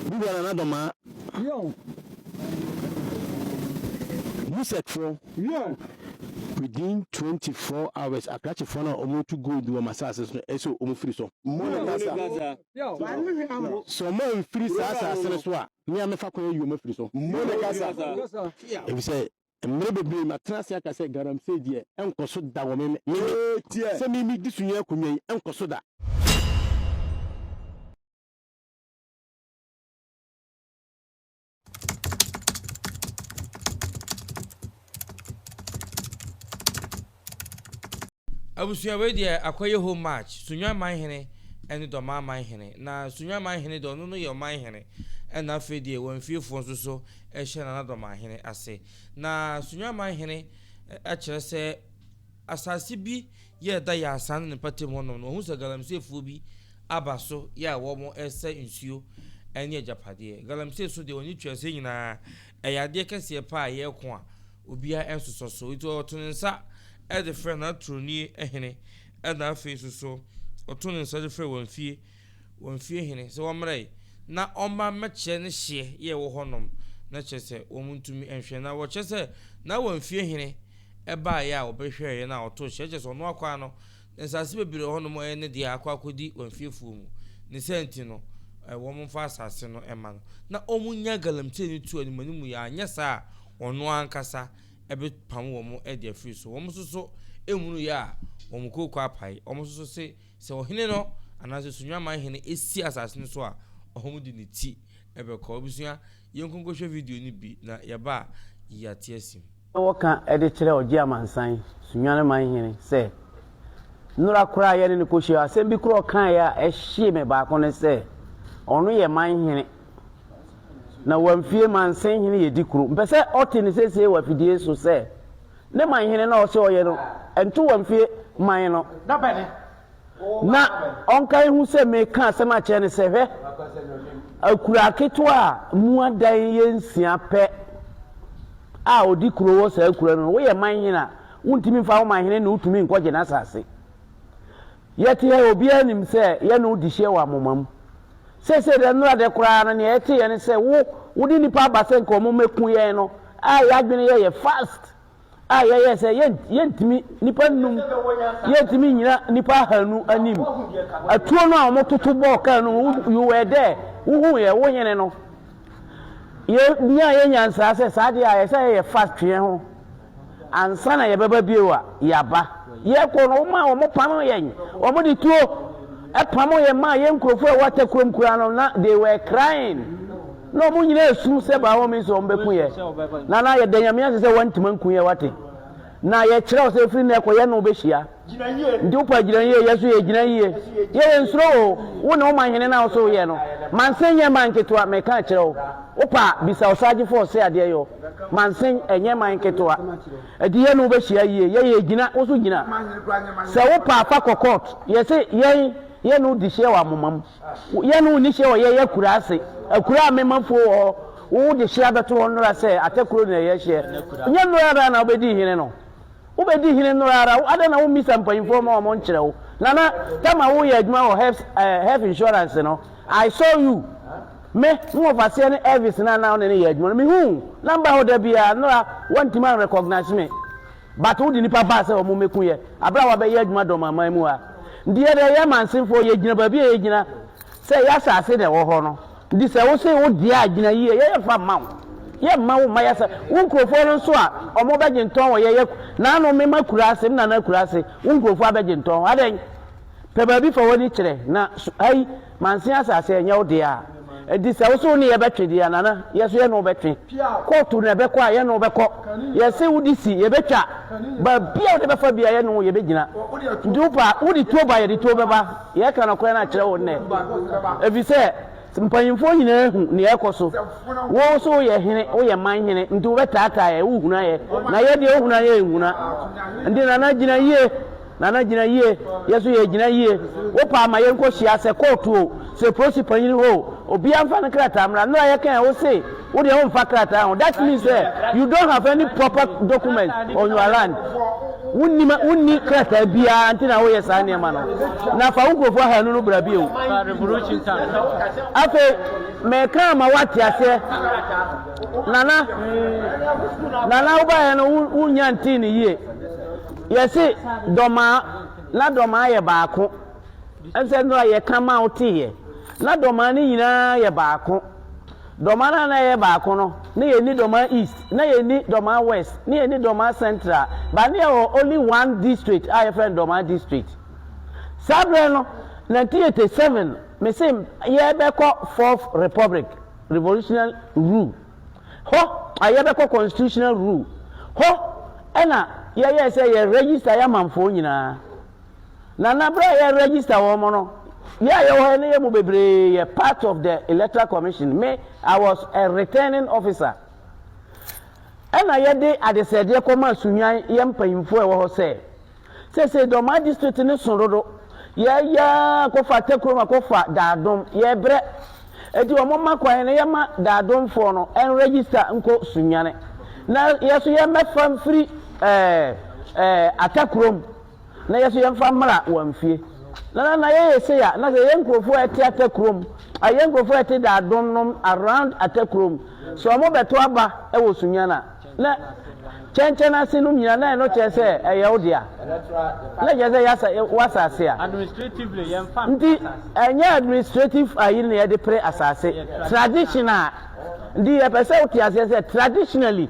Bi wɔ Nana Domaa. Wion. Musek foɔ. Wion. Within twenty four hours akrakye foɔ no a ɔmo tu gold wɔ m'asaase so no ɛsɛ ɔmo firi so. Mo ne kasa. Sɛ ɔmo anfiri saa asaase no so a me a mɛfa kwan ayi ɔmo afiri so. Mo ne kasa. Efisɛ mmere bebree matena ase aka sɛ galamsey deɛ ɛnkɔ so da wɔ me me me sɛ me me di so yi akonnwa yi ɛnkɔ so da. abusua wei deɛ akɔyɛ home match sunwan man hene ɛne dɔmaa man hene na sunwan man hene deɛ ɔno no yɛ ɔman hene ɛna afei deɛ wɔn fiefoɔ nso so ɛhyɛ nana dɔmaa hene ase na sunwan man hene akyerɛ sɛ asase bi Yɛ ɛda yɛ asaa ne ne mpɛtem hɔ nom no wahu sɛ galamsey foɔ bi aba so yɛ a wɔn ɛsɛ nsuo ɛne agyapadeɛ. Galamsey so deɛ ɔne tweaseɛ nyinaa ɛyɛ adeɛ kɛseɛ paa a yɛ ko a obiara ɛnsosɔ so nti ɔto ne nsa ɛde frɛ n'atoroni hene ɛna afei nso so ɔto ne nsa de frɛ wɔn fie wɔn fie hene sɛ wɔmmrɛe na ɔmma mmɛkyerɛ ne hyeɛ yɛ wɔ hɔ nom, na kyerɛ sɛ wɔn ntumi nhwɛ, na wɔkyerɛ sɛ na wɔn fie hene baeɛ a wɔbɛhwɛeɛ na ɔtoo hyeɛ, kyerɛ sɛ ɔno akwaa no, na nsase bebree wɔ hɔ nom ɛyɛ ne deɛ akɔ akɔdi wɔn fiefoɔ mu, ne saa nti no wɔn mfa asase no mma no, na wɔn nya galamsey no tuo animanimu yɛ, anyɛ saa a ɔno ankasa bɛ pam wɔn de afiri so, wɔn nso so nhunuu yɛ a wɔn kooko apae, wɔn nso so se. Sɛ ɔhene no anaasɛ Sunyamman hene si asase no so a, ɔhɔm de ne ti bɛkɔ. Abusua, yɛnkɔ nkɔhwɛ video no bi na yɛba a yɛate asi mu. na wɔka de kyerɛ Ɔgye Amansan, Sunyamman hene, sɛ, Nnora koraa a yɛne no kɔhyiae, asɛm bi koro a ɔkaeɛ a ɛhyee me baako ne sɛ, Ɔno yɛ man hene, na Wamfie mansin hene yɛ di koro. Mpɛ sɛ ɔte no seesei wɔ afidie so sɛ Ne man hene no a ɔsɛ ɔyɛ no nto wɔn mfie man no, na ɔnka nhu sɛ meka asɛm akyerɛ no sɛ, Hwɛ, akuraa ketewa a mu adan yɛ nsia pɛ a ɔdi kuro wɔ saa akuraa no, woyɛ man hene a, wontumi mfa wo man hene na wotumi nkɔgye n'asase. Yɛte ha yi, obiara nim sɛ yɛne wo di hyiɛ wɔ amoma mu. Seesei deɛ, nnora deɛ koraa no, nea yɛteeɛ ne sɛ wo, wode nnipa aba sɛ nka wɔmmɛku yɛn no, a yɛn adwene yɛeɛ fast, a yɛyɛɛ sɛ yɛn, yɛntumi, nnipa nnum, yɛntumi nnyina nnipa ahanu anim. Atuo no a wɔtoto bɔɔ kaa no, you were there, wohuuɛ, wo hene no. Yebenya yɛn nyansaa sɛ saa de a ɛsɛ sɛ yɛfa twe ho ansa na yɛbɛba bio a, yɛaba. Yɛrekɔ no, womaa wɔpam yɛn. Wɔde tuo pam yɛn maa yɛn nkurɔfo a ɛwɔ Atakurom kuraa no. Na they were crying. Na wɔn nyinaa resu sɛ by all means wɔbɛku yɛn. Na na yɛda Nyame ase sɛ wɔantumi anku yɛn, wate. Na yɛkyerɛ wo sɛ ɛfiri nnɛ kɔ yɛne wo bɛhyia. Gyina yie. Nti wo paa gyina yie yɛso yɛ gyina yie yɛ yɛ nsuro oo wo ne wo man hene na wo so wo yɛ no mansen nyɛ man ketewa me ka kyerɛ wo wo paa bisa ɔsaagye fo ɔse adeɛ yɔ mansen ɛnyɛ man ketewa nti yɛ ne wo bɛ hyia yie yɛ yɛ gyina wo so gyina sɛ wo paa fa kɔ court yɛ se yɛn yɛ ne wo di hyia wɔ amomam yɛ ne wo ni hyia wɔ yɛ yɛ kura ase akura a mema fuo wɔ hɔ wo de hyia bɛto hɔ nnora sɛ atakuro na yɛ hyia nyɛ nnora na wobɛdi hene no. Wobɛdi hene nnora ara, adɛn na wommisa mpanyimfoɔ ma wɔnkyerɛ wo? Nana, Tama woyɛ adwuma wɔ health, eh, health insurance no, I saw you. Me, me wɔfaseɛ ne Elvis no a na wo ne no yɛ adwuma no, mehu wo, na mba hɔ da biara, nnora, woantumi anrecognize me. But wode nnipa baa sɛ wɔmmɛku yɛ, berɛ a woabɛyɛ adwuma dɔmaman mu ha. Deɛ deɛ yɛ Mansinfoɔ, yɛgyina baabi a yɛgyina sɛ yɛ asase na ɛwɔ hɔ no. Nti sɛ wo se wo deɛ a gyina yie, yɛyɛ fa mma wo, yɛ mma wo mma yɛ sɛ wo nkurofoɔ no nso a ɔmo bɛ gye ntɔn wɔ yɛyɛ naano me ma kuraase me nana kuraase wo nkurofoɔ abɛ gye ntɔn adɛn pɛ baabi fa wani kyerɛ na su ayi mansen asaase ɛnyɛ wo deɛ a nti sɛ wo se wo ne yɛ bɛ twe deɛ nana yɛ so yɛ ne wo bɛ twe kootu na ɛbɛ kɔ a yɛ ne wo bɛ kɔ yɛ se wo de si yɛ bɛ twa baabi a wo de bɛ fa bia yɛ ne wo yɛ bɛ gyina nti wo pa wo de tuo ba yɛ de tuo bɛ ba. Yɛka nokorɛ no akyerɛ wo nnɛ, ɛfiri sɛ mpanimfoɔ nyinaa ahu deɛ ɛrekɔ so. Wo nso woyɛ hene, woyɛ man hene, nti wobɛtaataa yɛn, wohuna yɛn, na yɛn deɛ wohuna yɛn nhuna. Nti Nana gyina yie, Nana gyina yie, yɛn nso yɛgyina yie. Wopɛ a ma yɛnkɔhyia, sɛ kɔɔto o, sɛ polisi panin hɔ o, obiara mfa ne krataa mmra. Nnora yɛkae, wose. Wo deɛ wo nfa krataa ho that means sɛ you don't have any proper document on your land wonni ma wonni krataa biara nti na woyɛ saa nneɛma no na fa wo nkurɔfoɔ ahanu no bra bio afei mɛka ama woate aseɛ nana nana wobaeɛ no wonya ntee no yie yɛse dɔmaa na dɔmaa yɛ baako ɛsɛ no a yɛka ma woteeɛ na dɔmaa no nyinaa yɛ baako Dɔmaa no a na yɛyɛ baako no, na yɛnni Dɔmaa East, na yɛnni Dɔmaa West, na yɛnni Dɔmaa Central, but na yɛwɔ only one district a yɛfrɛ no Dɔmaa District. Saa berɛ no, 1987, mese yɛbɛkɔ Fourth Republic, revolutionary rule. Hɔ, ah, yɛbɛkɔ constitutional rule. Hɔ na yɛyɛɛ sɛ yɛ register yɛ amanfoɔ nyinaa. Na na berɛ a yɛ register wɔn no, yɛ a yɛwɔ hɔ no yɛ mu bebree yɛ part of the electoral commission. Me, I was a returning officer. Ɛna yɛde adesrɛdeɛ kɔmaa Sunnyan yɛ mpanyinfoɔ a ɛwɔ hɔ sɛ, seesei Dɔmaa district no so dodo, yɛreyɛ ara kɔfa Atakurom akɔfa Daadom, yɛrebrɛ. Enti wɔn mma kwan na yɛma Daadomfoɔ no nregister nkɔ Sunyani. Na yɛ nso yɛmmɛfa mfiri ɛɛ ɛɛ Atakurom. na yɛso yɛmfa mmra wɔn fie na na na yɛyɛ sei a na sɛ yɛn nkurɔfoɔ a ɛte atakurom a yɛn nkurɔfoɔ a ɛte daadom nom around atakurom sɛ wɔn bɛto aba wɔ sunyana na kyɛnkyɛn ase nom nyina na ɛno kyerɛ sɛ ɛyɛ wo dea na kyerɛ sɛ yɛasa wasase a nti ɛnyɛ administrative ayi na yɛde pere asase tradition a nti yɛpɛ sɛ wote aseɛ sɛ traditionally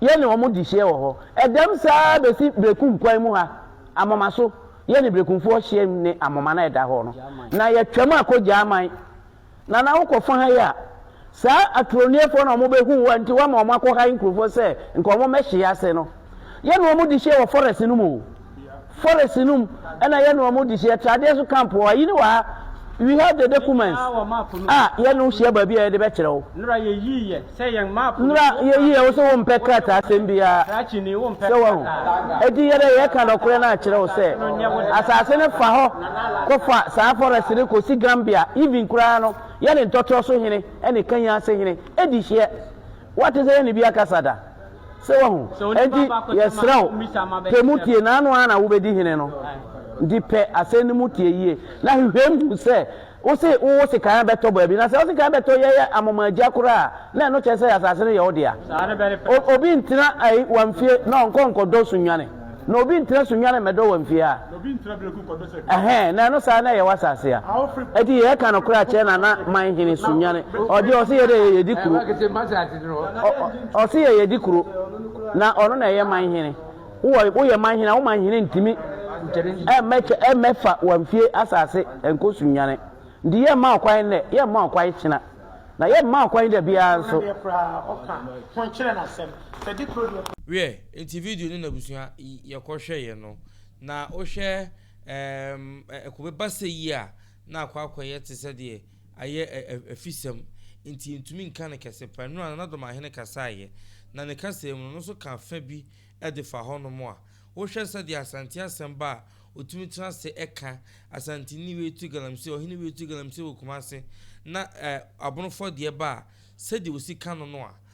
yɛne wɔn di hyiɛ wɔ hɔ. Ɛdɛm saa ara bɛsi Berekum kwan mu ha, Amoma so. Yɛne Berekumfoɔ hyiam ne Amoma no a ɛda hɔ no, na yɛtwam akɔ Gyaman. Nana wokɔ fa ha yi a, saa aturoniefoɔ no a wɔbɛhuu wo a nti woama wɔakɔhae nkurɔfoɔ sɛ nka wɔmmɛhye yɛn ase no, yɛne wɔn di hyiɛ wɔ forest no mu o. Forest no mu na yɛne wɔn di hyia. Tradeɛ nso camp wɔ ha. Ayi ne wɔ ha. We have the documents a yɛne wo hyia baabi a yɛde bɛkyerɛ wo. Nora yɛyii yɛ sɛ yɛn map no. Nora yɛyii yɛ wo sɛ wo mpɛ krataa asɛm biara. Krakyeni wo mpɛ krataa. Eti yɛdɛ yɛka nɔkorɛ no akyerɛ wo sɛ asase no fa hɔ kɔ fa saa forest no kɔ si Gambia even koraa no yɛne ntɔtorɔ so hene ne kanyan ase hene di hyia. Wate sɛ yɛne bi akasa da. So woahu? Enti yɛsrɛ wo, pɛ mu tie, na ɛno ara na wubedi hene no. Enti pɛ asɛm no mu tie yiye, na hwehwɛm hu sɛ wose wo sekan bɛtɔ baabi. Na sɛ wo sekan bɛtɔ yɛyɛ amomaagya koraa a, na ɛno kyerɛ sɛ asase no yɛ wo dea. Obi ntena Ayiwa mfie na ɔnkɔ nkɔdɔ nsunnwane. Na obi ntra so nnwane mmɛdɔ wɔ mfie a ɛhɛ na ɛno saa na ɛyɛ wɔ asase a. Enti yɛ ɛka no kora kyɛ na na man hene so nnwane. Ɔde ɔse yɛ dɛ yɛ yɛ di kuro. Ɔse yɛ yɛ di kuro. Na ɔno na ɛyɛ man hene. Wo yɛ man hene a wo man hene ntimi ɛmmɛ fa wɔ mfie asase ɛnkɔ so nnwane. Nti yɛ mma ɔkwan nnɛ, yɛ mma ɔkwan kyena. Na yɛ mma ɔkwan da biara nso. Wiɛ, Enti video no n'abusua yɛ kɔ hwɛ yɛ no na wo hwɛ eem ɛkɔ bɛ ba sɛ yi a na akɔ akɔ yɛ te sɛ deɛ ayɛ afisɛm nti yɛ ntumi nka no kɛse pa nnura Nana Domahene kasaa yɛ na ne kasaa mu no no nso kaa fɛ bi de fa hɔ nom a wo hwɛ sɛ deɛ Asante asɛm ba a ɔtumi tena ase ɛka Asanteni wei to galamsey ɔhene wei to galamsey wɔ Kumase na eh Abonofɔ deɛ ba a sɛ deɛ ɔsi ka no no a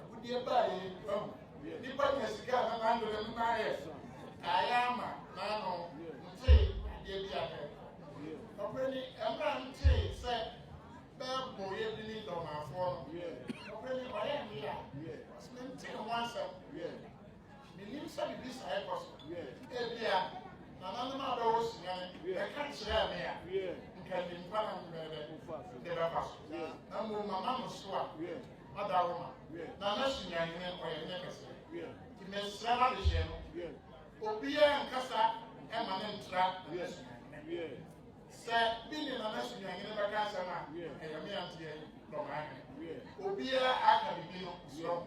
Agudeɛ baa yɛn fam. Nnipa nya sika a na n'adwene no na ayɛ kaeɛ ama n'ano ntee adeɛ bi a na ɛkɔ. Nɔkorɛ ni, ɛmmerɛ ntee sɛ bɛɛbɔ yɛ bi ne dɔmaafoɔ no, nɔkorɛ ni, ɔyɛ mmea, ɔse mentee ho asɛm. Menim sɛ biribi saa rekɔ so. Ebia nananom a bɛwɔ Sudan bɛka kyerɛɛ me a, nka nim kwan a me bɛbɛ de bɛfa so. Na mmom mama no so a, mada wo ma. Na na Sudanhene ɔyɛ hene kɛse. Nti mesrɛ m'adehyeɛ no, obiara nkasa mma no ntra nana Sudanhene. Sɛ bi ne nana Sudanhene bɛka asɛm a, ɛyɛ me anteɛ dɔmaahene. Obiara aka biribi no, mesrɛ wo.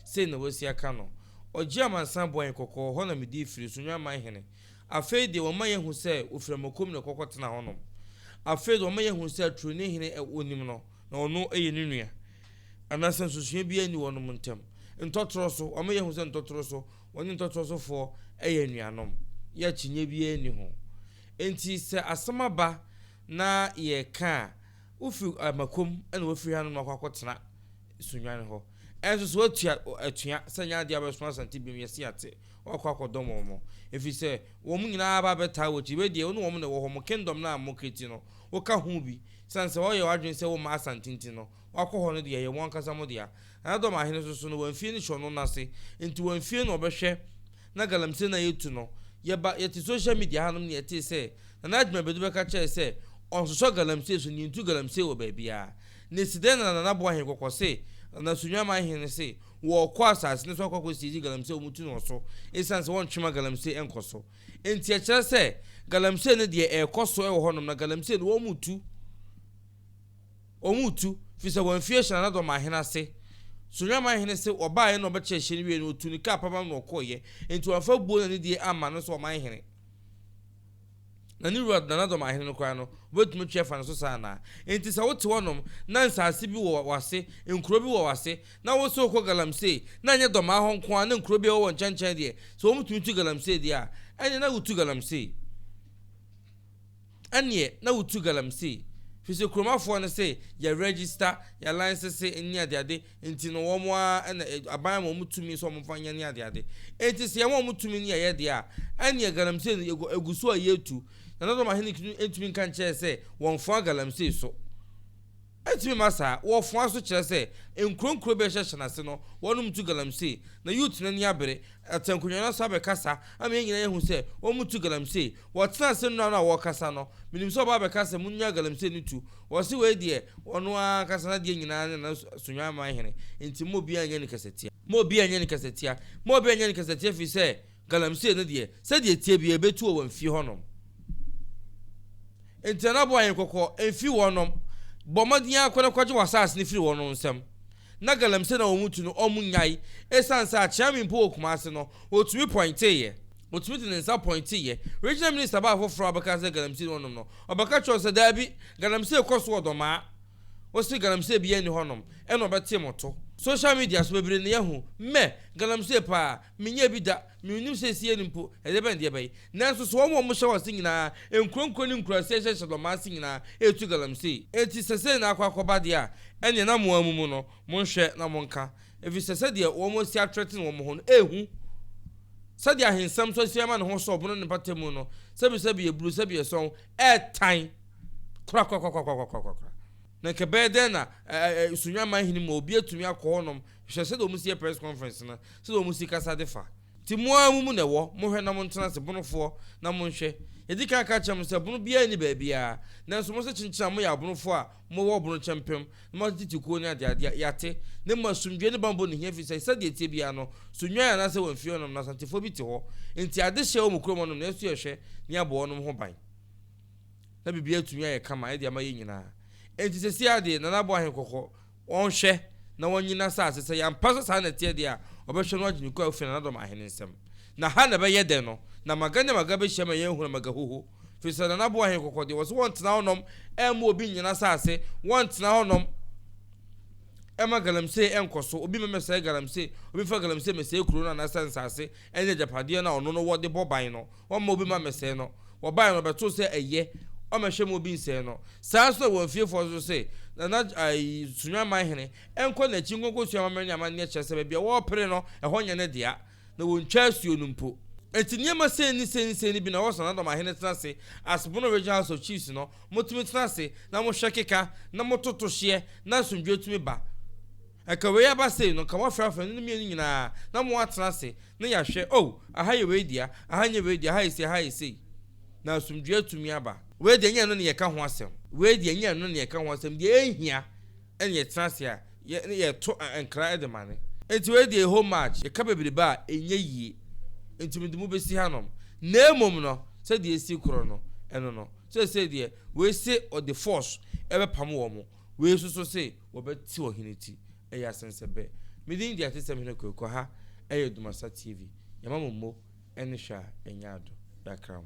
Sei na wɔasia ka no. Ɔgyee amansan bɔe kɔkɔɔ, ɛhɔ na medii firi so, Nnwamman Hene. Afei deɛ, wɔma yɛahu sɛ ɔfiri Amokom na ɔkɔ kɔtena hɔnom. Afei deɛ, wɔma yɛahu sɛ Atureni Hene a wɔnim no, na ɔno yɛ ne nua. Anaasɛ nsusuiɛ biara nni wɔnom ntam. Ntɔtorɔ so, wɔama yɛahu sɛ ntɔtorɔ so, wɔne ntɔtorɔ sofoɔ yɛ anuanom. Yɛ akyinnyeɛ biara nni ho. Enti sɛ asɛm aba na yɛreka a, wofiri Amakom na wɔafiri hanom akɔ akɔtena Sunnwan hɔ. Ɛnso so woatua atua sɛ ɛnyɛ adeɛ a wobɛsoma Asante binom, yɛse yɛate, woakɔ akɔdɔm wɔn mo, ɛfiri sɛ wɔn nyinaa aba abɛtaa wo akyi, wei deɛ wo ne wɔn na ɛwɔ hɔ, mo kingdom no a mo kreti no, woka ho bi, sane sɛ woayɛ w'adwene sɛ womma Asante nti no, woakɔ hɔ no deɛ ɛyɛ mo ankasa mo dea. Nana Dɔmahene nso so no wamfie no hyɛ ɔno no ase, nti wamfie na ɔbɛhwɛ na galamsey no a yɛtu no, yɛba yɛte social media hanom na yɛtee sɛ Nana Agyimabadu bɛka kyerɛɛ sɛ ɔnsosɔ galamsey so na yɛntu galamsey wɔ baabiara, Na esi dɛn na Nana Boahen kɔkɔ se Nana Sunyama Hene se wɔɔkɔ asaase no so akɔ akɔ siegye Galamsey a wɔtu no wɔ so esiane sɛ wɔntwe ma Galamsey ɛnkɔ so nti ɛkyerɛ sɛ Galamsey no deɛ ɛɛkɔ so wɔ hɔnom na Galamsey no wɔn retu wɔn retu firi sɛ wɔamfi ahyɛ Nana Dɔmaa Hene ase Sunyama Hene se ɔbaeɛ na ɔbɛkyɛ ɛhyɛ no wieɛ no ɔtuu ne kaa pabam na ɔkɔeɛ nti wɔamfa buo na anidie amma no nso ɔman Hene Na ne wura na n'adɔm ahene no koraa no, wobɛtumi atwi afa ne so saa anaa? Enti sɛ wote hɔnom, na nsaase bi wɔ w'ase, nkuro bi wɔ w'ase, na wose wokɔ galamsey, na ɛnyɛ Dɔmaa hɔ nko ara na nkuro bi a ɛwɔ wɔn nkyɛnkyɛn deɛ, sɛ wɔtumi tu galamsey deɛ a, ɛnneɛ na wotu galamsey. Ɛnneɛ na wotu galamsey. Firi sɛ kuromafoɔ no se, yɛaregista, yɛalansese, ne adeade, Enti no wɔn ara na aban ma wɔn tumi sɛ wɔmfa nyɛ ne adeade. Enti sɛ yɛma wɔn tumi ne yɛyɛ deɛ a, ɛnneɛ galamsey no yɛgu, ɛgu so a yɛretu. Na Dodom ahene tumi ntumi nka nkyerɛɛ sɛ wɔmfoa galamsey so. Ɛntumi mma saa. Wɔfoa so kyerɛ sɛ nkuro nkuro bɛhyɛ hyɛn ase no, wɔnom tu galamsey, na Ute no ani abere, Atɛnkonya no asan bɛkasa ama yɛn nyinaa yɛahu sɛ wɔtu galamsey. Wɔtena ase nnora no a wɔrekasa no, menim sɛ ɔbaa bɛkaa sɛ, Monnyaa galamsey no tu. Wɔse wei deɛ, ɔno ara ankasa n'adeɛ nyinaa ne n'asonnwamma hene, enti mma obiara nyɛ no kasatia. Mma obiara nyɛ no kasatia. Mma obiara nyɛ no kasatia ɛfiri sɛ galamsey no deɛ, sɛdeɛ ɛteɛ biara ɛbɛtu wɔ wɔn fie hɔnom. Enti Nana bɔɔ Ahenkɔkɔ, Mfi wɔnom. Bɔ mmɔden ara kɔ na kɔgye w'asaase no firi wɔnom nsam. na galamsey na wɔn tu no, wɔnnyae. Esiane sɛ akyea me mpo wɔ Kumasi no, otumi pɔinteeɛ. Otumi de ne nsa pɔinteeɛ. Regional Minister baa foforɔ a ɔbɛkaa sɛ galamsey ne wɔnom no, ɔbɛka kyerɛɛ wɔn sɛ, Daabi, galamsey kɔ so wɔ Dɔmaa. Wose galamsey biara nni hɔnom, ɛna ɔbɛtee mo to. Social media so bebree na yɛahu, meh, galamsey paa. Menyɛɛ bi da, mennim sɛ ɛsi ani mpo, ɛdeɛ bɛn deɛ ɛbɛye. Nanso so wɔn a wɔhyɛ wɔn ase nyinaa, nkuro nkuro ne nkuraase a ɛhyɛ Shiloh man ase nyinaa, retu galamsey? Enti sɛ sei na akɔ akɔba deɛ a, ɛnneɛ na mo ara mo mu no, monhwɛ na monka, ɛfiri sɛ sɛdeɛ wɔn asi atrɛtene wɔn ho no, ɛrehu. Sɛdeɛ ahensɛm nso asi ama ne ho so ɔbono ne mpata mu no, sɛbi sɛbi yɛburu, sɛbi yɛsɔn, ɛretan korakora, korakora, korakora, korakora. Na nka ɛbɛyɛ dɛn na ɛ, ɛ, ɛ, Sunyanman hene mu a obi atumi akɔ hɔnom, Hwɛ sɛdeɛ wɔn si yɛ press conference no, sɛdeɛ wɔn si kasa de fa. Nti mo ara mo mu na ɛwɔ, mohwɛ na montena ase, Bonofoɔ, na monhwɛ. Yɛdi kan ka kyerɛɛ mo sɛ bono biara nni baabiara, nanso mo se kyenkyen a moyɛ abonofoɔ a mowɔ bono kyɛmpem, na moate tete kuo ne adeadeɛ a, yɛate, na mmom asomdwoeɛ ne bammɔ nni hia ɛfiri sɛ sɛdeɛ ɛteɛ biara no, so nnwan anaa sɛ wɔamfie hɔnom no, Asantefoɔ bi te hɔ, nti ade hyɛ wɔ mo kurom hɔnom, nanso yɛhwɛ na yɛabɔ wɔnom ho ban, na biribiara atumi ayɛ kama de ama yɛn nyinaa. Nti seesei ara deɛ, Nana Boahen kɔkɔ, Wɔnhwɛ na wɔnnye n'asase, sɛ yɛampa sɛ saa na ɛteɛ deɛ a, wɔbɛhwɛ na wɔagye ne kɔ afiri Nanaadɔm ahene nsam. Na ha na ɛbɛyɛ dɛ no, na Maga ne Maga bɛhyia ma yɛahunu Magahuho, firi sɛ Nanaboa ahene kɔkɔ deɛ, wɔse wɔntena hɔnom mma obi nnye n'asase, wɔntena hɔnom mma galamsey nkɔ so, obi mma mmɛsɛe galamsey, obi mfa galamsey mmɛsɛe kuro no anaasɛ nsase ne agyapadeɛ no a ɔno no wɔ de bɔ ban no. Wɔmma obi mma mmɛsɛe no. Wɔbae no, wɔbɛtoo sɛ ɛyɛ. Wɔmmɛhwɛ mma obi nsɛe no. Saa ara nso na wɔn fiefoɔ nso se, Nana ai, Sunwamman hene, nkɔ n'akyi nkɔkɔsua amammerɛ ne amanneɛ kyerɛ sɛ baabi a wɔrepere no, ɛhɔ nyɛ ne dea, na wɔntwa asuo no mpo. Enti nneɛma sei ne sei ne sei no bi na wɔsɔ Nadɔm ahene tena ase, as Bono Regional House of Chiefs no, motumi tena ase na mohwɛ keka, na mototo hyeɛ, na asomdwoeɛ tumi ba. Ɛka wei aba sei no, nka moafrafra no ne mmienu nyinaa na moatena ase na yɛahwɛ, oh, aha yɛ wei dea, aha nyɛ wei dea, aha yɛ sei, aha yɛ sei, na asomdwoeɛ atumi aba. Wei deɛ ɛnyɛ ɛno na yɛreka ho asɛm. Wei deɛ ɛnyɛ ɛno na yɛreka ho asɛm. Deɛ ɛhia ne yɛtena ase a yɛ ne yɛto nkra de ma no. Enti wei deɛ ɛhɔ much, yɛka bebrebe a, ɛnyɛ yie. Enti mede mo bɛsi hanom. Na mmom no, sɛdeɛ ɛsii korɔ no, ɛno no, seesei deɛ, wei se ɔde force bɛpam wɔn. Wei susu se wɔbɛte ɔhene ti, ɛyɛ asensɛbɛ. Me din de atesɛm hene Kweku ha ɛyɛ Dumasa TV, yɛma mo mo ɛne hwɛ a ɛnyɛ ado, yɛakra ho.